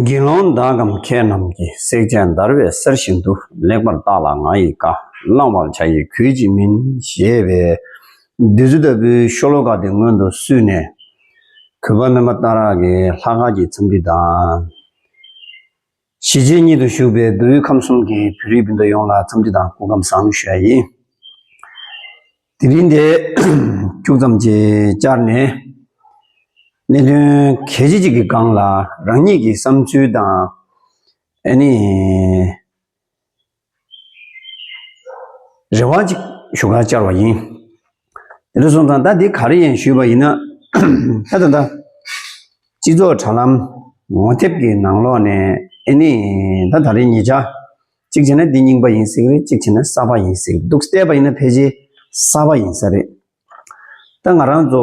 དགེ་སློང་བདག་གམ་མཁས་རྣམས་ཀྱིས་བསྲེག་བྱ་འདར་བའི་གསེར་བཞིན་དུ་ལེགས་པར་བརྟགས་ལ་ང་ཡི་བཀའ་བླང་བར་བྱ་ཡི་གུས་ཀྱིས་མིན་ཞེས་པས། བདུད་རྩི་ལྟ་བུའི་ཤོ་ལོ་ཀ་དེ་སྔོན་དུ་བསུས་ནས། གུས་པ་རྣམ་པ་སྟ་རག་གིས་ལྷ་སྐལ་གྱི་འཚམས་འདྲི་དང། གཞིས་བྱེས་གཉིས་དུ་བཞུགས་པའི་བདུད་དབུས་ཁམས་གསུམ་གྱི་བོད་རིགས་སྤུན་ཟླ་ཡོངས་ལ་འཚམས་འདྲི་དང་སྐུ་ཁམས་བཟང་ཞུ་བ་ཡིན། དེ་རིང་འདི་ཁྱུག་ཙམ་གྱིས་བསྐྱར་ནས་གནད་དོན་གལ་ཆེ་གཅིག་གི་སྒང་ལ་རང་ཉིད་ཀྱི་བསམ་ཚུལ་དང། ཨ་ནི། རེ་བ་ཅིག་ཞུ་ཁ་བཅར་བ་ཡིན། དེ་ལ་སོང་ཙང་ད་འདི་ག་རེ་ཡིན་ཞུས་པ་ཡིན་ན། ད་ད་ད། སྤྱི་ཚོགས་དྲ་ལམ་ངོ་དེབ་ཀྱི་ནང་ལོག་ནས་ཨེ་ནི་ད་ད་རེ་ཉེས་ཆ་གཅིག་བྱས་ན་འདི་རྙིང་པ་ཡིན་ཟེར་གི་རེད་གཅིག་བྱས་ན་གསར་པ་ཡིན་ཟེར་གི་འདུག་བལྟས་པ་ཡིན་ན་ཕལ་ཆེར་གསར་པ་ཡིན་ས་རེད། ད་ང་རང་ཚོ་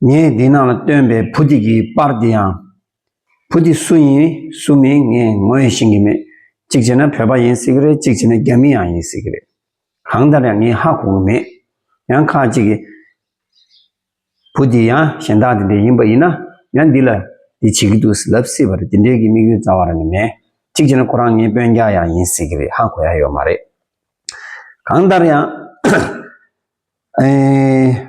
ངས་འདི་ན་སྟོན་པའི་བུ་འདི་གི་པར་འདི་ཡང། བུ་འདི་སུ་ཡིན་སུ་མིན་ངས་ངོས་ཤེས་ཀྱི་མེད། གཅིག་བྱས་ན་བོད་པ་ཡིན་སྲིད་ཀྱི་རེད་གཅིག་བྱས་ན་རྒྱ་མི་ཡང་ཡིན་སྲིད་ཀྱི་རེད། གང་ལྟར་ཡང་ངས་ཧ་གོ་གི་མེད། ཡང་ཁ་ཅིག་གིས། བུ་འདི་ཡང་གཞན་དག་དེ་འདྲས་ཡིན་པ་ཡིན་ན་ཡང་འདི་ལ་འདི་བྱེད་ཀྱི་འདུག་ཟེར་ལབ་སྲིད་པ་རེད་དེ་འདྲས་ཀྱི་དམིགས་ཡུལ་རྩ་བ་རང་གི་མེད། གཅིག་བྱས་ན་ཁོ་རང་ངའི་དཔོན་རྒྱག་ཡང་ཡིན་སྲིད་ཀྱི་རེད་ཧ་གོ་ཡ་ཡོད་མ་རེད། གང་ལྟར་ཡང། ཨེ།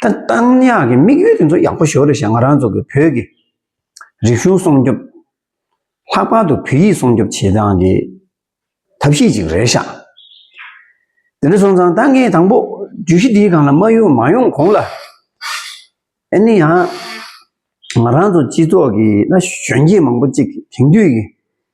ད་རྟགས་ཉག་གི་དམིགས་ཡུལ་དེ་ཚོ་ཡག་པོ་ཞོར་རེ་བཞག་ང་རང་ཚོ་གི་བོད་ཀྱི་རིག་གཞུང་སྲོང་སྐྱོབ། ལྷག་པར་དུ་བོད་ཡིག་སྲོང་སྐྱོབ་བྱེད་སྟངས་ཀྱི་ཐབས་ཤེས་ཅིག་རེ་བཞག། དེ་འདྲ་སོང་ཙང་ད་ངས་དང་པོ་བརྗོད་གཞི་འདིའི་སྒང་ལ་མ་ཡོང་མ་ཡོང་གོང་ལ། ཨ་ནི་ཡང་ང་རང་ཚོ་སྤྱི་ཚོགས་ཀྱི་ན་གཞོན་སྐྱེས་མང་པོ་ཅིག་དེང་དུས་ཀྱི་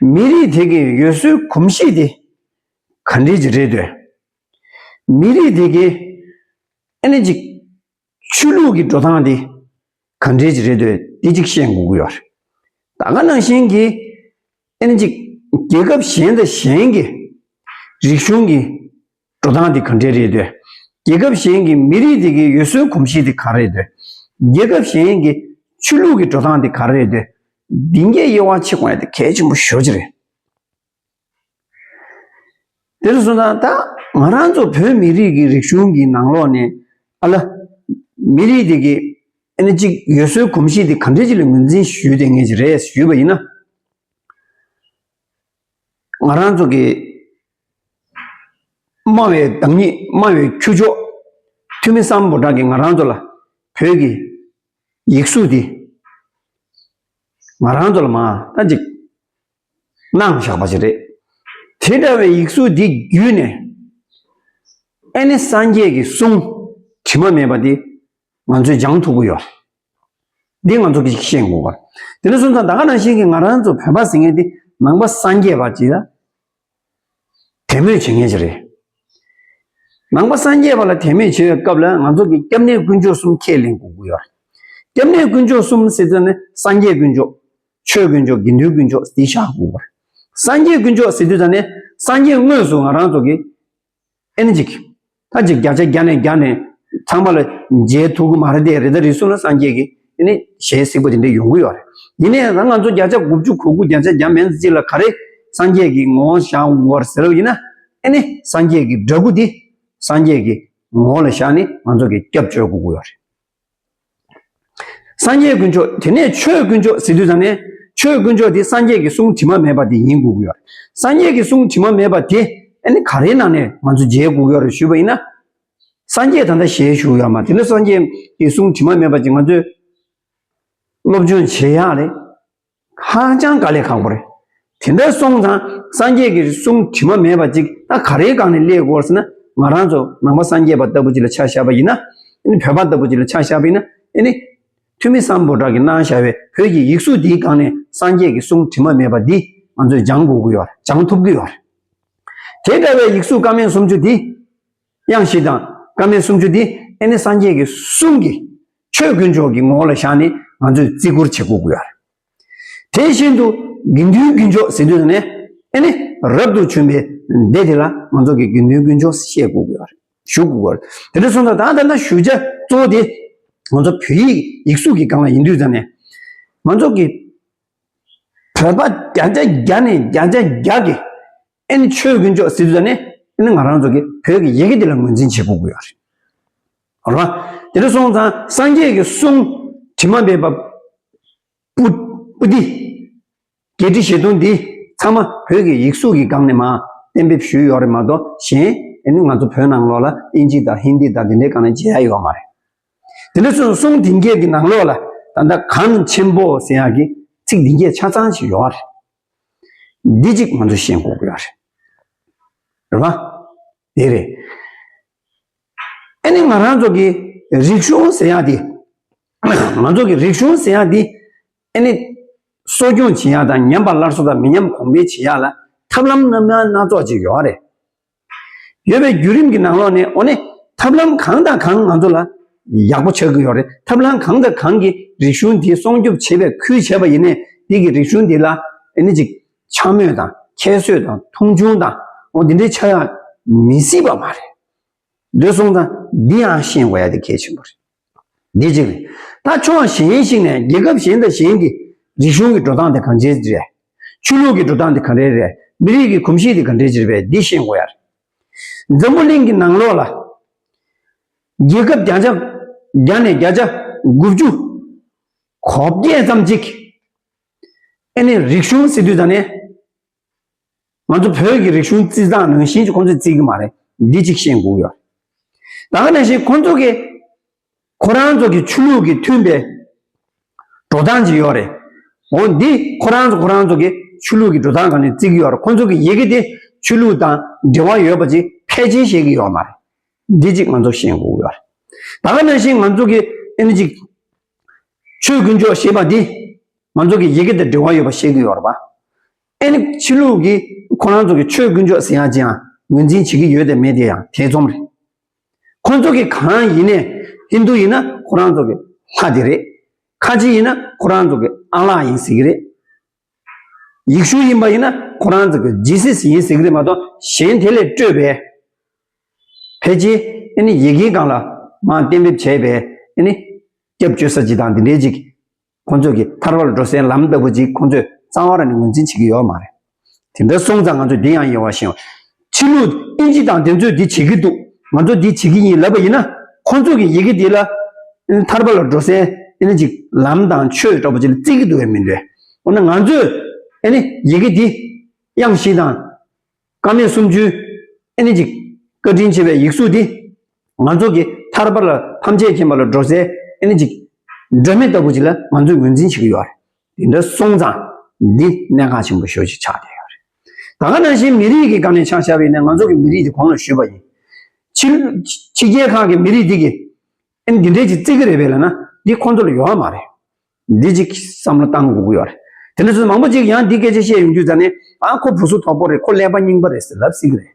མི་རིགས་དེ་གའི་ཡུལ་སྲོལ་གོམས་གཤིས་དེ་ག་འདྲས་ཀྱི་རེད་འདོད། མི་རིགས་དེ་གའི་ཨ་ནེ་ཅིག་ཆོས་ལུགས་ཀྱི་འགྲོ་སྟངས་དེ་ག་འདྲས་ཀྱི་རེད་འདོད་དེ་གཅིག་བཤད་འགོ་དགོས་པ་རེད། ད་ག་ནང་བཞིན་གྱི་ཨ་ནེ་ཅིག་རྒྱལ་ཁབ་གཞན་དང་གཞན་གྱི་རིག་གཞུང་གི་འགྲོ་སྟངས་དེ་ག་འདྲས་རེད་འདོད། རྒྱལ་ཁབ་གཞན་གྱི་མི་རིགས་དེ་གའི་ཡུལ་སྲོལ་གོམས་གཤིས་དེ་ག་རེད་འདོད། རྒྱལ་ཁབ་གཞན་གྱི་ཆོས་ལུགས་ཀྱི་འགྲོ་སྟངས་དེ་ག་རེད་འདོད། འདི་འགའི་དབྱེ་བ་ཕྱེ་བ་དེ་གལ་ཆེན་པོ་ཤོས་ཅི་རེད། དེ་ལ་སོང་ཙང་ད་ང་རང་ཚོ་བོད་མི་རིགས་ཀྱི་རིག་གཞུང་གི་ནང་ལོགས་ནས་ཨ་ལ། མི་རིགས་དེ་གའི་ཨེ་ན་ཅིག་ཡུལ་སྲོལ་གོམས་གཤིས་དེ་ག་འདྲས་ཅིག་ལ་ངོས་འཛིན་ཞུས་ལྟས་ངེས་ཅིག་རེད་ཞུས་པ་ཡིན་ན། ང་རང་ཚོ་གི་སྨྲ་བའི་བདག་ཉིད་སྨྲ་བའི་ཁྱུ་མཆོག་ཐོན་མི་བསམ་པོ་དག་གིས་ང་རང་ཚོ་ལ་བོད་ཀྱི་ཡིག་གཟུགས་འདི་ང་རང་ཚོ་ལ་མ་ལྟ་ཅིག་གནང་བཞག་པ་ཞིག་རེད། དེ་འདྲ་བའི་ཡིག་གཟུགས་འདི་བརྒྱུད་ནས་ཨེ་ནི་སངས་རྒྱས་ཀྱི་གསུང་དྲི་མ་མེད་པ་འདི་ང་ཚོས་སྦྱང་ཐུབ་ཀྱི་ཡོད། འདི་ང་ཚོ་གིས་ཤེས་དགོས་པ། དེ་ནས་བཟུང་ད་ག་རང་བཞིན་གྱིས་ང་རང་ཚོ་བོད་པ་ཟེར་མཁན་དེ་ནང་པ་སངས་རྒྱས་པ་ཅིག་ལ་དད་མོས་བྱེད་མཁན་ཞིག་རེད། ནང་པ་སངས་རྒྱས་པ་ལ་དད་མོས་བྱེད་པའི་སྐབས་ལ་ང་ཚོ་གིས་སྐྱབས་གནས་དཀོན་མཆོག་གསུམ་ཁས་ལེན་དགོས་དགོས་ཡོད། སྐྱབས་གནས་དཀོན་མཆོག་གསུམ་ཟེར་དུས་ནི་སངས་རྒྱས་དཀོན་མཆོག། ཆོས་དཀོན་མཆོག་དགེ་འདུན་དཀོན་མཆོག་དེ་བཞག་དགོས་པ། སངས་རྒྱས་དཀོན་མཆོག་ཟེར་དུས་ད་ནི་སངས་རྒྱས་དངོས་སུ་ང་རང་ཚོ་གིས་ཨེ་ན་ཅིག། ད་ཅིག་བརྒྱ་ཆ་བརྒྱ་ནས་བརྒྱ་ནས་ཚང་མ་ལ་མཇལ་ཐུག་གི་མ་རེད་དེ་རེ་ད་རེ་སུ་ན་སངས་རྒྱས་ཀྱི་ཨེ་ནས་ཞལ་གཟིགས་པ་དེ་འདྲས་ཡོང་གི་ཡོད་རེད། ཡིན་ནའི་ད་ང་ཚོ་བརྒྱ་ཆ་དགུ་བཅུ་གོ་དགུ་བརྒྱ་ཆ་བརྒྱ་མན་ཚེ་གཅིག་ལ་ག་རེ་སངས་རྒྱས་ཀྱི་ངོ་བོ་བཞག་འོང་བར་ཟེར་བ་ཡིན་ན་ཨེ་ནས་སངས་རྒྱས་ཀྱི་འདྲ་སྐུ་དེ་སངས་རྒྱས་ཀྱི་ངོ་བོ་ལ་བཞག་ནས་ང་ཚོ་གི་སྐྱབས་བཅོལ་གོ་དགོས་ཡོད་རེད། སངས་རྒྱས་དཀོན་མཆོག་དེ་ནས་ཆོས་དཀོན་མཆོག་ཟེར་དུས་ཙང་ནས་ཆོས་དཀོན་མཆོག་དེ་སངས་རྒྱས་ཀྱི་གསུང་དྲི་མ་མེད་པ་དེ་ཡིན་དགོས་ཀྱི་ཡོད། སངས་རྒྱས་ཀྱི་གསུང་དྲི་མ་མེད་པ་དེ་ནི་ག་རེའི་ནང་ནས་ང་ཚོས་མཇལ་དགོས་ཀྱི་རེད་ཞུས་པ་ཡིན་ན། སངས་རྒྱས་ད་ལྟ་ཞལ་བཞུགས་ཡོད་མ་དེ་ནི་སངས་རྒྱས་ཀྱི་གསུང་དྲི་མ་མེད་པ་ཅིག་ང་ཚོས་སློབ་སྦྱོང་བྱེད་ཡག་རེད། ཧ་ཅང་དཀའ་ལས་ཁག་པོ་རེད། དེ་འདྲ་སོང་ཙང་སངས་རྒྱས་ཀྱི་གསུང་དྲི་མ་མེད་པ་ཅིག་ད་ག་རེའི་སྒང་ནས་གླས་དགོས་ཟེར་ན་ང་རང་ཚོ་ནང་པ་སངས་རྒྱས་པ་ལྟ་བུ་ཅིག་ལ་ཆ་བཞག་པ་ཡིན་ན། བོད་པ་ལྟ་བུ་ཅིག་ལ་ཆ་བཞག་པ་ཡིན་ན། དེ་ནི་འཐུས་མི་སམ་པོ་བྲག་གིས་གནང་བཞག་པའི་བོད་ཀྱི་ཡིག་གཟུགས་འདིའི་སྒང་ནས་སངས་རྒྱས་ཀྱི་གསུང་དྲི་མ་མེད་པ་འདི་ང་ཚོས་སྦྱང་དགོས་ཀྱི་ཡོད་རེད་སྦྱང་ཐུབ་ཀྱི་ཡོད་རེད། དེ་འདྲ་བའི་ཡིག་གཟུགས་དཀར་མིན་སུམ་ཅུ་འདི། དབྱངས་བཞི་དང་སྐར་མའི་སུམ་ཅུ་དེ་ཨེ་ནི་སངས་རྒྱས་ཀྱི་གསུང་གིས་ཆོས་དཀོན་མཆོག་གི་ངོ་བོ་ལ་བཞག་ནས་ང་ཚོས་བརྩི་བཀུར་བྱེད་དགོས་ཀྱི་རེད། དེ་བཞིན་དུ་དགེ་འདུན་དཀོན་མཆོག་ཟེར་དུས་ནས་ཨེ་ནི་རབ་ཏུ་བྱོན་པའི་སྡེ་དེ་ལ་ང་ཚོ་གིས་དགེ་འདུན་དཀོན་མཆོག་བཤད་དགོས་ཀྱི་རེད། ཞུ་དགོས་ཀྱི་རེད། དེ་འདྲ་སོང་ཙང་ད་ལྟ་ན་ཞུ་བྱ་གཙོ་བོ་དེ་ང་ཚོ་བོད་ཡིག་ཡིག་གཟུགས་ཀྱི་སྒང་ལ་ཡིན་དུས་ཙང་ནས་ང་ཚོ་གིས་བོད་པ་བརྒྱ་ཆ་བརྒྱ་ནས་བརྒྱ་ཆ་བརྒྱ་གིས་ཨེ་ནི་ཆོས་དཀོན་མཆོག་ཟེར་དུས་ནི་ཨེ་ནི་ང་རང་ཚོ་གི་བོད་ཀྱི་ཡི་གེ་འདི་ལ་ངོས་འཛིན་བྱེད་དགོས་ཀྱི་ཡོད་རེད། ཨོ་ར། དེ་ནི་སོང་ཙང་སངས་རྒྱས་ཀྱི་གསུང་དྲི་མ་མེད་པ། པུ། པུ་ཏི། བརྒྱད་ཁྲི་བཞི་སྟོང་འདི་ཚང་མ་བོད་ཀྱི་ཡིག་གཟུགས་ཀྱི་སྒང་ནས་མ་གཏན་འབེབས་ཞུས་ཡོད་རེད་མ་གཏོགས་གཞན་ཨེ་ནི་ང་ཚོ་བོད་ནང་ལོགས་ལ་ཨིན་ཇི་དང་ཧིན་དི་དང་དེ་འདྲའི་སྒང་ནས་མཇལ་ཡ་ཡོད་མ་རེད། དེ་ནི་སོང་གསུང་དེང་སྐད་ཀྱི་ནང་ལོགས་ལ་ད་ལྟ་གངས་ཆེན་པོ་ཟེར་ཡག་གི་ཚིག་འདི་འགྱེད་ཆ་ཚང་ཞིག་ཡོད་རེད། འདི་གཅིག་ང་ཚོས་ཤེས་འགོག་དགོས་པ་རེད། རེད་མ། དེ་རེད། ཨ་ནི་ང་རང་ཚོ་གི་རིག་གཞུང་ཟེར་ཡག་འདི། ང་ཚོ་གི་རིག་གཞུང་ཟེར་ཡག་འདི། ཨ་ནི། གསོ་སྐྱོང་བྱེད་ཡག་དང་ཉམས་པ་སླར་གསོ་དང་མི་ཉམས་གོང་འཕེལ་བྱེད་ཡག་ལ་ཐབས་ལམ་རྣམ་ཡང་སྣ་ཚོགས་ཅིག་ཡོད་རེད། ཡོད་པའི་བརྒྱུད་རིམ་གྱི་ནང་ལོགས་ནས་འོ་ནི་ཐབས་ལམ་གང་དང་གང་ང་ཚོ་ལ་ཡག་པོ་ཆགས་ཀྱི་ཡོད་རེད་ཐབས་ལམ་གང་དང་གང་གིས་རིག་གཞུང་འདི་སྲོང་སྐྱོབ་བྱེད་པའི་ཁུལ་བྱས་པ་ཡིན་ནས་འདི་གིས་རིག་གཞུང་འདི་ལ་ནི་ཅིག་འཕྱ་སྨོད་དང་ཁྱད་གསོད་དང་མཐོང་ཆུང་དང་འོ་འདི་འདྲའི་ཆ་ཡང་མི་སྲིད་པ་མ་རེད། འདོད་སོང་དང་འདི་ཡང་ཤེས་དགོས་ཡ་དེ་གལ་ཆེན་པོ་རེད། དེ་གཅིག་རེད། ད་ཕྱོགས་གཞན་ཞིག་ནས་རྒྱལ་ཁབ་གཞན་དང་གཞན་གྱི་རིག་གཞུང་གི་འགྲོ་སྟངས་དེ་གང་འདྲའི་རེད། ཆོས་ལུགས་ཀྱི་འགྲོ་སྟངས་དེ་གང་འདྲའི་རེད། མི་རིགས་ཀྱི་གོམས་གཤིས་དེ་གང་འདྲའི་རེད་པས་འདི་ཤེས་དགོས་ཡ་རེད། འཛམ་བུ་གླིང་གི་ནང་ལོགས་ལ། རྒྱལ་ཁབ་བརྒྱ་ཆ་བརྒྱ་ནས་བརྒྱ་ཆ་དགུ་བཅུ། གོ་བརྒྱད་ཙམ་ཅིག། ཨེ་ནས་རིག་གཞུང་སི་ཏུས་ད་ནས། ང་ཚོ་བོད་ཀྱི་རིག་གཞུང་རྩིས་བཟང་ནང་བཞིན་ཁོང་ཚོས་རྩིས་ཀྱི་མ་རེད་འདི་གཅིག་ཤེས་དགོས་ཀྱི་ཡོད། ད་ག་ནང་བཞིན་ཁོང་ཚོ་གིས་ཁོ་རང་ཚོ་གི་ཆོས་ལུགས་ཀྱི་མཐུན་པའི་འགྲོ་སྟངས་ཀྱི་ཡོད་རེད། འོ་འདི་ཁོ་རང་ཚོ་ཁོ་རང་ཚོ་གི་ཆོས་ལུགས་ཀྱི་འགྲོ་སྟངས་གང་ནས་རྩིས་ཀྱི་ཡོད་རེད་ཁོང་ཚོ་གི་ཡི་གེ་དེ་ཆོས་ལུགས་དང་འབྲེལ་བ་ཡོད་པ་ཅིག་ཕལ་ཆེར་ཤེས་ཀྱི་ཡོད་མ་རེད་འདི་གཅིག་ང་ཚོ་ཤེས་དགོས་ཀྱི་ཡོད། ད་ག་ནང་བཞིན་ང་ཚོ་གི་ཨ་ནི་གཅིག། ཆོས་དཀོན་མཆོག་ཞེས་པ་འདི་ང་ཚོ་གི་ཡི་གེ་དང་འབྲེལ་བ་ཡོད་པ་ཤེས་གི་ཡོད་རེད་པ། ཨེ་ནི་ཕྱི་ལུགས་ཀྱི་ཁོ་རང་ཚོ་གི་ཆོས་དཀོན་མཆོག་ཟེར་ཡག་ཅིའང་ངོས་འཛིན་བྱེད་ཀྱི་ཡོད་དེ་མེད་དེ་ཡང་ཐེ་ཚོམ་རེད། ཁོ་ཚོ་གི་གང་ཡིན་ནས་ཧིན་དུ་ཡིན་ན་ཁོ་རང་ཚོ་གི་ལྷ་དེ་རེད། ཁ་ཆེ་ཡིན་ན་ཁོ་རང་ཚོ་གི་ཨ་ལགས་ཡིན་ཟེར་གི་རེད། ཡིག་གཞུང་ཡིན་པ་ཡིན་ན་ཁོ་རང་ཚོ་གི་ཇི་སྲིད་ཡིན་ཟེར་གི་རེད་མ་གཏོགས་གཞན་དེ་ལས་སྤྲོས་པས། ཕལ་ཆེར་ཨེ་ནི་ཡི་གེའི་སྒང་ལ་མང་གཏན་འབེབས་བྱས་པས་ཨེ་ནི། སྐྱབས་བཅོལ་ས་ཅིག་དང་དེ་འདྲས་ཅིག་ཁོང་ཚོ་གི་ཐར་བར་འགྲོ་སའི་ལམ་ལྟ་བུ་ཅིག་ཁོང་ཚོས་གཙང་བར་ནི་ངོས་འཛིན་བྱེད་ཀྱི་ཡོད་མ་རེད། དེ་འདྲ་སོང་ཙང་ང་ཚོས་དེ་ཡང་ཡིན་བ་བཞིན། ཕྱི་ལུགས་ཨིན་ཇི་དང་དེ་ཚོས་འདི་བྱེད་ཀྱི་འདུག་ང་ཚོ་འདི་བྱེད་ཀྱི་ཡིན་ལབ་པ་ཡིན་ན། ཁོ་ཚོ་གིས་ཡི་གེ་འདི་ལ། ཐར་པ་ལ་འགྲོ་སའི་ཨེ་ཅིག་ལམ་དང་ཆོས་སྒྲོག་པ་ཅིག་ལ་བརྩི་གི་འདུག་བས་མི་འདོད། འོ་ན་ང་ཚོས་ཨེ་ནི་ཡི་གེ་འདི། དབྱངས་བཞི་དང། དཀའ་མེད་སུམ་ཅུའི་ཨེ་ཅིག། བཀའ་དྲིན་ཆེ་བའི་ཡིག་གཟུགས་འདི། ང་ཚོ་གིས་ཐར་པ་ལ་ཐམས་ཅད་མཁྱེན་པ་ལ་འགྲོ་སའི་ཨེ་ཅིག། སྒྲོན་མེ་ལྟ་བུ་ཅིག་ལ་ང་ཚོས་ངོས་འཛིན་བྱེད་ཀྱི་ཡོད་རེད། དེ་འདྲ་སོང་ཙང་འདི་གནད་འགག་ཆེན་པོ་ཤོས་ཤིག་ཆགས་བསྡད་ཡོད་རེད། ད་ག་ནང་བཞིན་མི་རིགས་ཀྱི་སྒང་ནས་ཆགས་བཞག་པའི་ནས་ང་ཚོ་གི་མི་རིགས་དེ་གོང་ལ་བཞུད་པ་ཡིན། ཕྱི་ཕྱི་རྒྱལ་ཁག་གི་མི་རིགས་དེ་གི་ཨེ་འདི་འདྲས་ཅིག་བརྩི་གི་རེད་པས་ལ་ན་འདི་ཁོང་ཚོ་ལ་ཡོད་ཨ་མ་རེད། འདི་གཅིག་བསམ་བློ་གཏང་དགོས་ཀྱི་ཡོད་རེད། དེ་འདྲས་སུ་མང་པོ་ཅིག་ཡང་འདི་སྐད་ཆ་བཤད་ཡོང་དུས་ཙང་ནས་ཨ་ཁོ་བུ་སུ་དོག་པོ་རེད་ཁོ་ཀླད་པ་རྙིང་པ་རེད་ཟེར་ལབ་སྲིད་གི་རེད།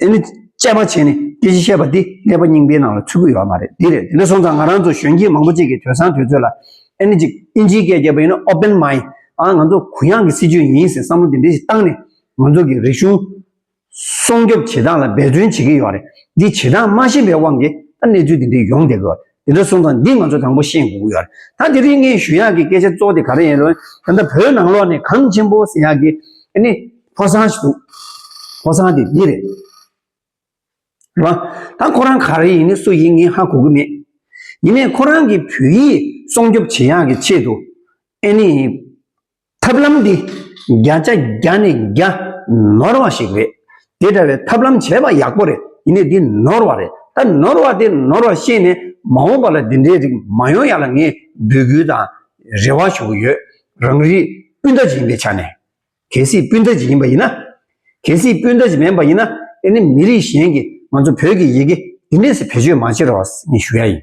དེ་ནི་དཔྱད་པ་བྱས་ནས་སྐད་ཅིག་བཤད་པ་འདི་ཀླད་པ་རྙིང་པའི་ནང་ལ་ཚུད་ཀྱི་ཡོད་མ་རེད་འདི་རེད་དེ་ནས་སོང་ཙང་ང་རང་ཚོ་གཞོན་སྐྱེས་མང་པོ་ཅིག་གིས་དོན་བཟང་དུས་ཚོད་ལ་ཨེ་ནི་ཅིག་ཨིན་ཇིའི་སྐད་རྒྱབ་པ་ཡིན་ན Open Mind ཨ་ང་ཚོ་གུ་ཡངས་ཀྱི་སྲིད་ཇུས་ཡིན་ཟེར་བསམ་བློ་དེ་འདྲས་ཞིག་བཏང་ནས་ང་ཚོ་གི་རིག་གཞུང་སྲོང་སྐྱོབ་བྱེད་སྟངས་ལ་འབད་བརྩོན་བྱེད་ཀྱི་ཡོད་རེད་འདི་བྱེད་སྟངས་མ་ཤེས་པའི་དབང་གིས་ད་གནས་ཚུལ་འདི་འདྲས་ཡོང་བསྡད་ཀྱི་ཡོད་རེད། དེ་འདྲ་གསུངས་དང་འདི་ང་ཚོ་དང་པོ་ཤེས་དགོས་ཀྱི་ཡོད་རེད་ད་དེ་རིང་ངས་ཞུ་ཡག་གི་སྐད་ཆ་གཙོ་དེ་ག་རེ་ཡིན་རུང་ད་ལྟ་བོད་ནང་ལོགས་ནས་གངས་ཆེན་པོ་ཟེར་ཡག་གི་ནི་ཕོ་བཟང་ཞིག་འདུག་ཕོ་བཟང་དེ་འདི་རེད་རེད་བ་ད་ཁོ་རང་ག་རེ་ཡིན་ནི་སུ་ཡིན་ངས་ཧ་གོ་གི་མེད་ཡིན་ནས་ཁོ་རང་གི་བོད་ཡིག་སྲོང་སྐྱོབ་བྱེད་ཡག་གི་ཆེད་དུ་ཨེ་ནི། ཐབས་ལམ་འདི་བརྒྱ་ཆ་བརྒྱ་ནས་བརྒྱ་ནོར་བ་ཞིག་རེད། དེ་འདྲ་བའི་ཐབས་ལམ་བྱས་པ་ཡག་པོ་རེད་ཡིན་ནའི་འདི་ནོར་བ་རེད་ད་ནོར་བ་དེ་ནོར་བ་ཤེས་ནས་མ་འོངས་པ་ལ་འདི་འདྲའི་རིགས་མ་ཡོང་ཡ་ལ་ངས་འབོད་སྐུལ་དང་རེ་བ་ཞུ་གི་ཡོད་རང་རིགས་སྤུན་ཟླ་ཞིག་ཡིན་པའི་ཆ་ནས། གལ་སྲིད་སྤུན་ཟླ་ཞིག་ཡིན་པ་ཡིན་ན། གལ་སྲིད་སྤུན་ཟླ་ཞིག་མིན་པ་ཡིན་ན་ཨེ་ནི་མི་རིགས་གཞན་གྱིས་ང་ཚོ་བོད་ཀྱི་ཡི་གེ་འདི་འདྲས་སུ་བེད་སྤྱོད་མ་བྱེད་རོགས་ངས་ཞུ་ཡ་ཡིན།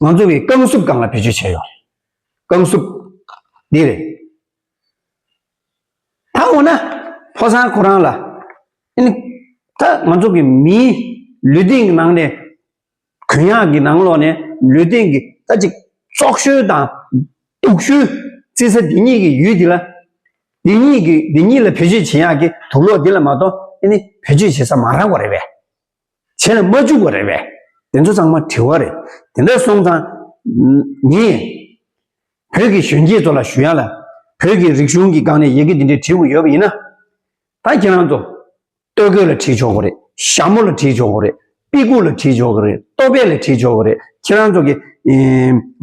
ང་ཚོ་གིས་རྐང་སུབ་སྒང་ལ་བེད་སྤྱོད་བྱས་ཡོད་རེད། རྐང་སུབ། འདི་རེད། ད་འོ་ན། ཕོ་བཟང་ཁོ་རང་ལ། ཨིན། ད་ང་ཚོ་གིས་མིའི་ལུས་སྟེང་གི་ནང་ནས། གུ་ཡངས་ཀྱི་ནང་ལོགས་ནས་ལུས་སྟེང་གི་ད་ཅིག་བཙོག་ཤོལ་དང། དུག་ཤོལ། བརྩི་ས་འདི་གཉིས་ཀྱི་ཡུལ་འདི་ལ། འདི་གཉིས་ཀྱི་འདི་གཉིས་ལ་བེད་སྤྱོད་བྱེད་ཡག་གི་དུག་ལོག་འདི་ལ་མ་གཏོགས་ཨིན། བེད་སྤྱོད་བྱེད་ས་མ་རག་པ་རེད་པས། བྱས་ན་མ་འཇུག་པ་རེད་པས་དེ་ཚོ་ཚང་མ་དྲི་བ་རེད་དེ་འདྲ་སོང་ཙང་ངས་བོད་ཀྱི་གཞོན་སྐྱེས་ཚོ་ལ་ཞུ་ཡག་ལ་བོད་ཀྱི་རིག་གཞུང་གི་སྒང་ནས་ཡི་གེ་འདི་འདྲ་བྲིས་དགོས་ཡོད་པ་ཡིན་ན་ད་ཁྱེད་རང་ཚོ་སྟོད་གོས་ལ་བྲིས་ཆོག་གི་རེད་ཞྭ་མོ་ལ་བྲིས་ཆོག་གི་རེད་པི་གུ་ལ་བྲིས་ཆོག་གི་རེད་ལྟོ་ཕད་ལ་བྲིས་ཆོག་གི་རེད་ཁྱེད་རང་ཚོ་གི་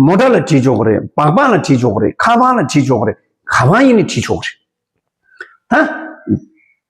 མོ་ཏྲ་ལ་བྲིས་ཆོག་གི་རེད་སྦག་སྦག་ལ་བྲིས་ཆོག་གི་རེད་ཁ་བ་ལ་བྲིས་ཆོག་གི་རེད་ག་བ་ཡིན་ནས་བྲིས་ཆོག་གི་རེད་ད།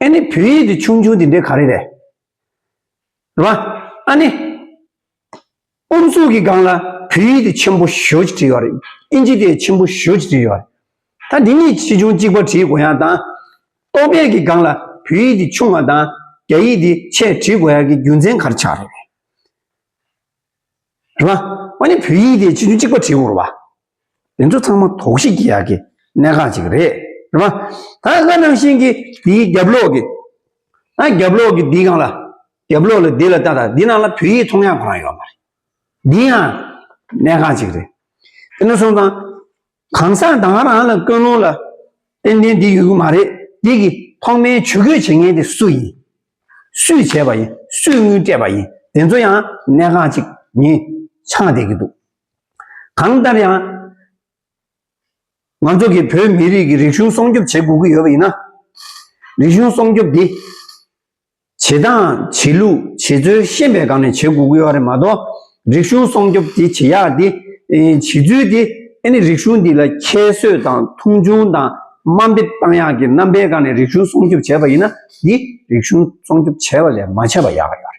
ཨ་ནི་བོད་ཡིག་གི་ཆུང་ཆུང་དེ་འདྲའི་ག་རེ་རེད། རེད་བ། ཨ་ནི། ཨུ་ཚུགས་ཀྱི་སྒང་ལ་བོད་ཡིག་དེ་ཆེན་པོ་ཞོ་ཅིག་བྲིས་ཡོད་རེད། ཨིན་ཇི་དེ་ཆེན་པོ་ཞོ་ཅིག་བྲིས་ཡོད་རེད། ད་འདི་གཉིས་ཆེ་ཆུང་གཅིག་པ་བྲིས་དགོས་ཡག་དང། རྟོག་དཔྱད་ཀྱི་སྒང་ལ་བོད་ཡིག་དེ་ཆུང་བ་དང་རྒྱ་ཡིག་དེ་ཆེ་བྲིས་དགོས་ཡག་གི་རྒྱུ་མཚན་ག་རེ་ཆགས་རེད། རེད་བ། ཨ་ནི་བོད་ཡིག་དེ་ཆེ་ཆུང་གཅིག་པ་བྲིས་དགོས་རེད་བ། འདི་ཚོ་ཚང་མ་དོགས་གཞི་བགྱི་ཡག་གི་གནད་འགག་ཅིག་རེད་རེད་མ། ད་ང་ནང་བཞིན་གྱི་དེའི་རྒྱབ་ལོག་གི། ཨ་རྒྱབ་ལོག་གི་འདི་གང་ལ། རྒྱབ་ལོག་ལ་འདི་ལ་ལྟ་ད་འདི་ནང་ལ་བོད་ཡིག་མཐོང་ཡག་གང་ཡོད་མ་རེད། འདི་ཡང་གནད་འགག་ཅིག་རེད། དེ་ནས་བཟུང་དང། གང་ཟག་དང་རང་ལ་ཀུན་སློང་ལ། ཏན་ཏན་འདི་ཡོད་གི་མ་རེད་འདི་གི་ཐོག་མའི་ཇུས་འགོད་བྱེད་མཁན་དེ་སུ་ཡིན། སུས་བྱས་པ་ཡིན་སུས་དངུལ་སྤྲད་པ་ཡིན་དེ་ཚོ་ཡང་གནད་འགག་ཅིག་ཡིན་ཆགས་བསྡད་ཀྱི་འདུག་གང་ལྟར་ཡང། ང་ཚོ་གིས་བོད་མི་རིགས་ཀྱི་རིག་གཞུང་སྲོང་སྐྱོབ་བྱེད་དགོས་ཀྱི་ཡོད་པ་ཡིན་ན། རིག་གཞུང་སྲོང་སྐྱོབ་དེ། བྱེད་སྟངས་བྱེད་ལུགས་བྱེད་རྩོལ་ཤེས་པའི་སྒང་ནས་བྱེད་དགོས་ཀྱི་ཡོད་རེད་མ་གཏོགས། རིག་གཞུང་སྲོང་སྐྱོབ་དེ་བྱེད་ཡག་དེ། བྱེད་ཚུལ་དེ། ཨེ་ནི་རིག་གཞུང་འདི་ལ་ཁྱད་གསོད་དང་མཐོང་ཆུང་དང་དམའ་འབེབས་བཏང་ཡག་གི་རྣམ་པའི་སྒང་ནས་རིག་གཞུང་སྲོང་སྐྱོབ་བྱས་པ་ཡིན་ན། འདི་རིག་གཞུང་སྲོང་སྐྱོབ་བྱས་པ་ལས་མ་བྱས་པ་ཡག་ཡོད་རེད།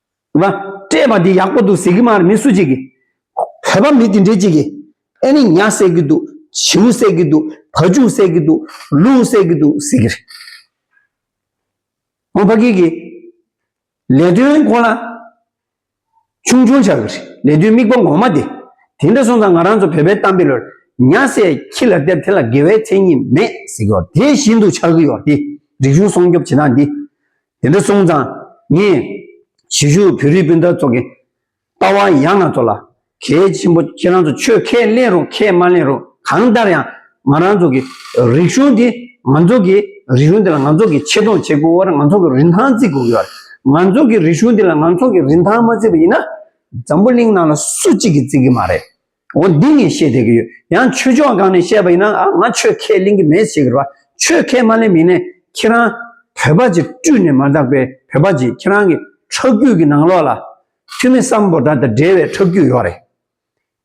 ཨ་མ། སྤྲད་པ་འདི་ཡག་པོ་འདུག་ཟེར་གི་མ་རེད་མི་སུ་གཅིག་གིས། བོད་པ་མི་དེ་འདྲས་གཅིག་གིས། ཨེ་ནི་ཉྭ་བསད་གི་འདུག་བྱིའུ་བསད་གི་འདུག་བ་ལྕུག་བསད་གི་འདུག་ལུག་བསད་གི་འདུག་ཟེར་གི་རེད། ཧོང་ཕ་གིའི་གིས། ལས་དོན་ཁོ་ན། ཆུང་ཆུང་བྱ་གི་རེད་ལས་དོན་དམིགས་པ་ངོ་མ་དེ། དེ་འདྲ་སོང་ཙང་ང་རང་ཚོ་བོད་པའི་གཏམ་དཔེ་ལོས། ཉྭ་བསད་ཁྱི་ལ་སྟེར་དེ་ལ་དགེ་བའི་མཚན་ཉིད་མེད་ཟེར་གི་ཡོད་དེ་བཞིན་དུ་ཆགས་ཀྱི་ཡོད་དེ། རིག་གཞུང་སྲོང་སྐྱོབ་བྱེད་སྟངས་འདི། དེ་འདྲ་སོང་ཙང་ངས་གཞིས་བཞུགས་བོད་རིགས་སྤུན་ཟླ་ཚོ་གི་ལྟ་བ་ཡག་ན་ཚོ་ལ་གལ་ཆེན་པོ་ཁྱེད་རང་ཚོ་ཆོས་ཁས་ལེན་རུང་ཁས་མ་ལེན་རུང་གང་ལྟར་ཡང་ང་རང་ཚོ་གི་རིག་གཞུང་དེ་ང་ཚོ་གི་རིག་གཞུང་དེ་ལ་ང་ཚོ་གི་ཆེ་མཐོང་བྱེད་དགོས་བར་ང་ཚོ་གི་རིན་ཐང་བརྩི་དགོས་ཀྱི་བར་ང་ཚོ་གི་རིག་གཞུང་དེ་ལ་ང་ཚོ་གི་རིན་ཐང་མ་བརྩི་བ་ཡིན་ན་འཛམ་བུ་གླིང་ནང་ལ་སུ་གཅིག་གིས་བརྩི་གི་མ་རེད། འོ་འདི་ངས་བཤད་བསྡད་ཀྱི་ཡོད་ཡང་ཆོས་ཕྱོགས་གང་ནས་བཤད་པ་ཡིན་ན་ང་ཆོས་ཁས་ལེན་གྱི་མེད་ཟེར་གྱི་རེད་བ་ཆོས་ཁས་མ་ལེན་མིན་ནས་ཁྱེད་རང་བོད་པ་ཅིག་བཀྲུས་ནས་མ་བརྟགས་པའི་བོད་པ་ཅིག་ཁྱེད་རང་གི་ཁྲག་རྒྱུད་ཀྱི་ནང་ལོགས་ལ་འཐུས་མི་སམ་བོ་ད་དང་འབྲེལ་བའི་ཁྲག་རྒྱུད་ཡོད་རེད་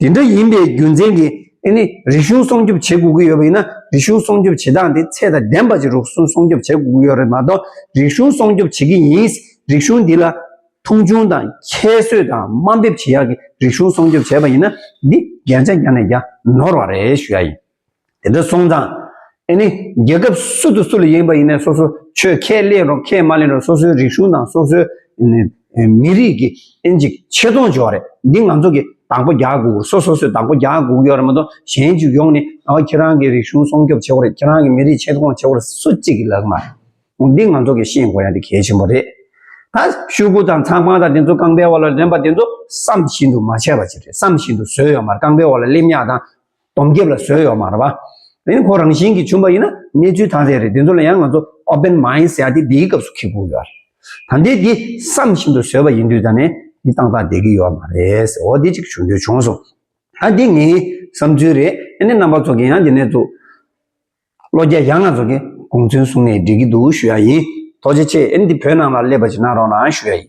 དེ་འདྲ་ཡིན་པའི་རྒྱུ་མཚན་གྱིས་ཨེ་ནི་རིག་གཞུང་སྲུང་སྐྱོབ་བྱེད་དགོས་ཀྱི་ཡོད་པ་ཡིན་ན་རིག་གཞུང་སྲུང་སྐྱོབ་བྱེད་སྟངས་དེ་ཚད་དང་ལྡན་པ་ཅིག་རུག་གསུང་སྲུང་སྐྱོབ་བྱེད་དགོས་ཀྱི་ཡོད་རེད་མ་གཏོགས་རིག་གཞུང་སྲུང་སྐྱོབ་བྱེད་ཀྱི་ཡིན་རིག་གཞུང་འདི་ལ། མཐོང་ཆུང་དང་ཁྱད་གསོད་དང་དམའ་འབེབས་བྱེད་ཡག་གི་རིག་གཞུང་སྲོང་སྐྱོབ་བྱས་པ་ཡིན་ན་འདི་རྒྱལ་མཚན་རྒྱང་ནས་རྒྱང་ནོར་བ་རེད་ཞུ་ཡག་ཡིན། དེ་འདྲ་སོང་ཙང་ཨེ་ནི་རྒྱལ་ཁབ་སུ་དང་སུ་ལ་ཡིན་པ་ཡིན་ནས་སོ་སོ་ཆོས་ཁས་ལེན་རོགས་ཁས་མ་ལེན་རོགས་སོ་སོའི་རིག་གཞུང་དང་སོ་སོའི་མི་རིགས་ཀྱི་ཨེན་ཅིག་ཆེ་མཐོང་བྱེད་བ་རེད་འདི་ང་ཚོ་གི་དང་པོ་རྒྱག་དགོས་སོ་སོ་སོས་དང་པོ་རྒྱག་དགོས་ཀྱི་ཡོད་རེད་མ་གཏོགས་གཞན་ཅིག་ཡོང་ནས་ཨ་ཁྱེད་རང་གི་རིག་གཞུང་སྲོང་སྐྱོབ་བྱེད་བ་རེད་ཁྱེད་རང་གི་མི་རིགས་ཆེ་མཐོང་བྱེད་བ་རེད་སུ་གཅིག་གི་ལག་ན་མ་རེད། འོ་འདི་ང་ཚོ་གི་ཤེས་དགོས་ཡ་འདི་གལ་ཆེན་པོ་རེད། ད་ཤུག་གུ་དང་ཚངས་པང་དང་དེ་ཚོ་རྐང་པའི་འོག་ལ་ལེན་པ་དེ་ཚོ་བསམ་བཞིན་དུ་མ་བྱས་པ་ཅིག་རེད་བསམ་བཞིན་དུ་བཟོས་ཡོད་མ་རེད་རྐང་པའི་འོག་ལ་སླེབས་ཉག་དང། དོམ་རྒྱབ་ལ་བཟོས་ཡོད་མ་རེད་བ། དེ་ནི་ཁོ་རང་བཞིན་གྱིས་བྱུང་པ་ཡིན་ན་གནས་ཚུལ་ཐ་དད་རེད་དེ་ཚོ་ལ་ཡང་ང་ཚོ open mind ཟེར་ཡ་དེ་འདིའི་སྐབས་སུ་ཁེགས་དགོས་ཡོད་རེད། ད་འདི་འདི་བསམ་བཞིན་དུ་བཟོས་པ་ཡིན་དུས་ད་ནས་འདི་ཏག་ཏག་བསྡད་ཀྱི་ཡོད་མ་རེད་འོ་འདི་ཅིག་བྱུང་དུས་བྱུང་སོང། ད་འདི་ངའི་བསམ་ཚུལ་རེད་ཨ་ནེ་རྣམ་པ་ཚོ་གི་ཡང་འདི་ནས་འཛུགས། བློ་རྒྱ་ཡག་ན་ཚོགས་ཀྱི་དགོངས་ཚུལ་གསུང་ནས་འགྲིག་གི་འདུག་ཞུ་ཡག་ཡིན། ཐོག་ཅེ་ཆེ་ཨེ་འདི་བོད་ནང་ལ་སླེབས་པ་ཞིག་གནང་རོགས་གནང་ཞུ་ཡག་ཡིན།